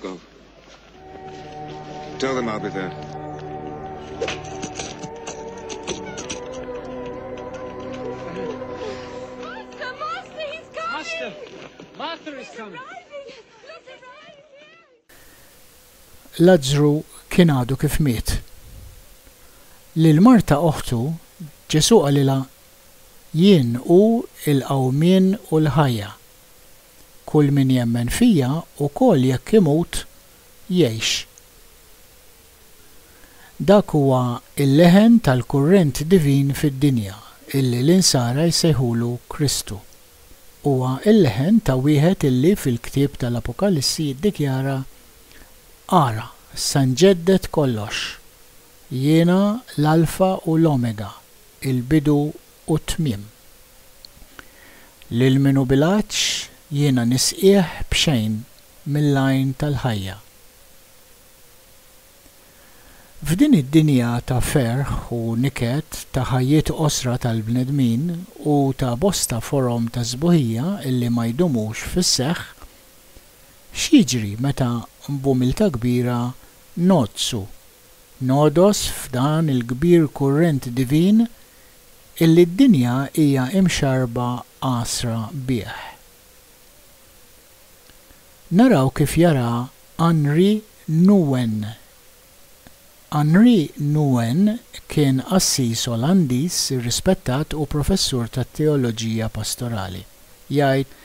Go. Tell them I'll be there. The master, he's coming! Master! Master is coming! Lazzru kien għadu kif miet. Lil Marta oħtu, Ġesu qalilha, Jien hu l-qawmien u l-ħajja. Kull min jemmen fija, ukoll jekk imut, jgħix. Dak huwa l-leħen tal-kurrent divin fid-dinja, illi l-Insara jsejħulu Kristu. Huwa l-leħen ta' wieħed illi fil-ktieb tal-Apokalissi jiddikjara, Ara, se nġedded kollox. Jiena l-Alfa u l-Omega, il-bidu u t-tmiem. Lil min hu bil-għatx jiena nisqieh b'xejn mill-għajn tal-ħajja. F'din id-dinja ta' ferħ u niket, ta' ħajjiet qosra tal-bnedmin u ta' bosta forom ta' sbuħija illi ma jdumux fis-seħħ, x'jiġri meta b'umiltà kbira ngħoddsu Nogħdos f'dan il-kbir kurrent divin illi d-dinja hija imxarrba għasra bih. Naraw kif jara Henri Nouwen. Henri Nouwen kien qassis Olandiż irrispettat u professur tat-teoloġija pastorali. Jgħid,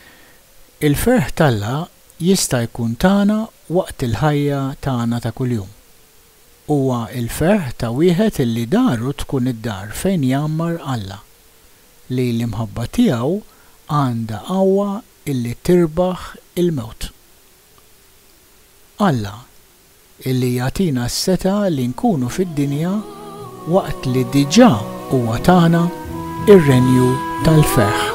Il-ferħ t'Alla jista' jkun tagħna waqt il-ħajja tagħna ta' kuljum. Huwa l-ferħ ta' wieħed li daru tkun id-dar fejn jgħammar Alla, li l-imħabba tiegħu għandha qawwa li tirbaħ il-mewt. Alla illi jagħtina s-setgħa li nkunu fid-dinja waqt li diġà huwa tana r-renju tal-ferħ.